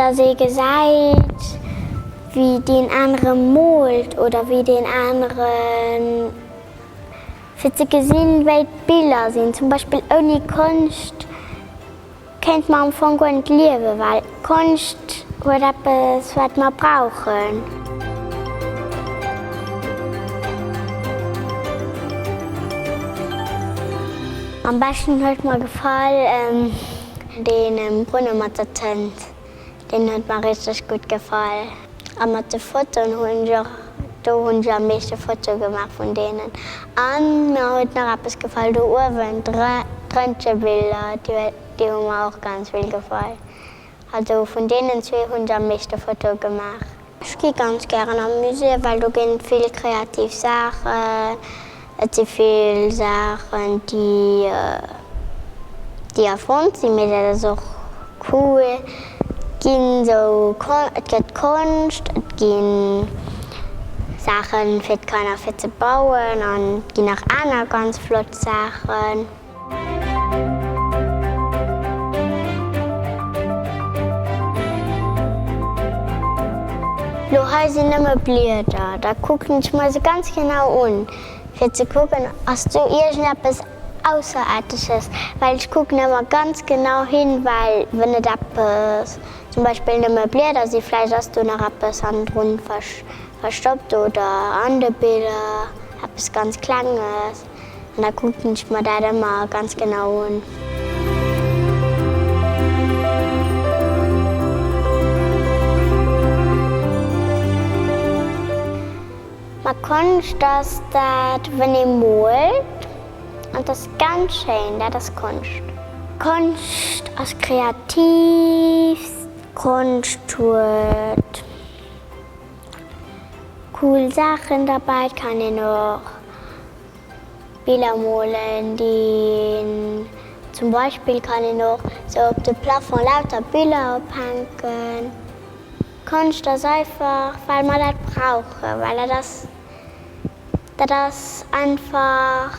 Dass ee gesäit, wéi deen anere moolt oder wéi deen anere, fir ze gesinn, wéi d'Biller sinn, zum Beispill ouni Konscht Kéint mer am Fong guer net liewen, well Konscht huet eppes, wat mer brauchen. Am beschten huet mer gefall dee Brunne mat der Tënt. deen huet mer richteg gutt gefall a mat de Fotoen hunn ech och, do hunn ech am meeschte Fotoe gemaach vun deenen an mer huet nach eppes gefall do uewen, d'Röntgebiller déi hu mer och ganz vill gefall, also vun deenen zwee hunn ech am meeschte Fotoe gemaach. Ech gi ganz gären am Musée, well do ginn vill kreativ Saachen, et si vill Saachen déi déi erfonnt sinn, mee dat ass och cool, ginn sou Kon et gëtt Konscht, et gi Saachen fir d'Kanner fir ze bauen an et ginn nach aner ganz flott Saachen. Lo hei sinn nëmme Blieder, da kucken ech mer se ganz genau un, fir ze kucken, ass do iergendeppes Ausserearteges, well ech kucken ëmmer ganz genau hin, well wenn et eppes, zum Beispill nëmme Blieder si, vläicht ass do nach eppes hannendrun verstoppt oder an de Biller eppes ganz Klenges. an da kucken ech mer dat ëmmer ganz genau un. Ma Konscht ass dat wënn ee moolt an et ass ganz schéin, dat ass Konscht. Konscht ass kreativst. Konscht huet. Cool Saachen derbäi, et kann een och Biller molen, zum Beispill kann een och esou op de Plafond lauter Biller ophänken. Konscht ass einfach well mer dat brauchen, well dat ass dat ass einfach.